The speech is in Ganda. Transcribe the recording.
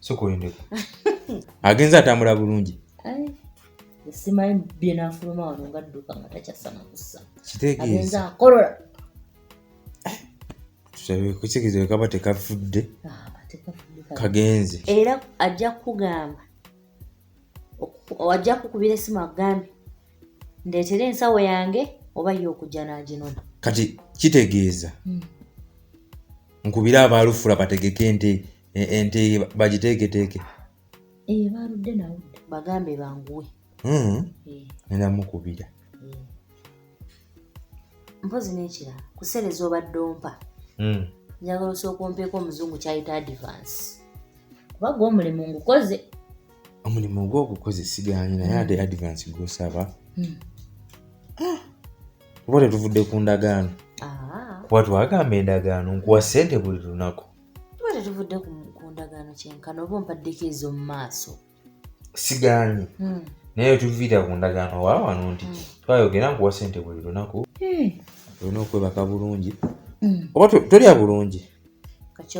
sokoyondeko agenze atambula bulungi simanyi byenafuluma wano nga dduka nga takyasana kussa agenze akolola kukigezo kaba tekafudde ah, kagenze era ajja kukugamba ajja kukubira esimu akugambe ndeetera ensawo yange oba ye okujja n'aginona kati kitegeeza hmm. nkubire abaalufula bategeke ente ente bagiteeketeeke eyo baaludde nawe bagambe banguwe hmm. eh. nenda mukubira eh. mpozi n'ekirala kuseereza obadde ompa hmm. njagala osooka ompeeko omuzungu kyayita advance kuba gwe omulimu ngukoze omulimu ogwogukoze sigaanyi naye ade advance gwosaba hmm. ah! kuba tetuvudde ku ndagaano ah. kuba twagamba endagaano nkuwa sente buli lunaku kuba tetuvudde ku ndagaano kyenkana oba ompaddeko ezo mu maaso sigaanyi hmm. naye tuviira ku ndagaano wa wano nti hmm. twayogera nkuwa sente buli lunaku olina okwebaka bulungi oba tolya bulungi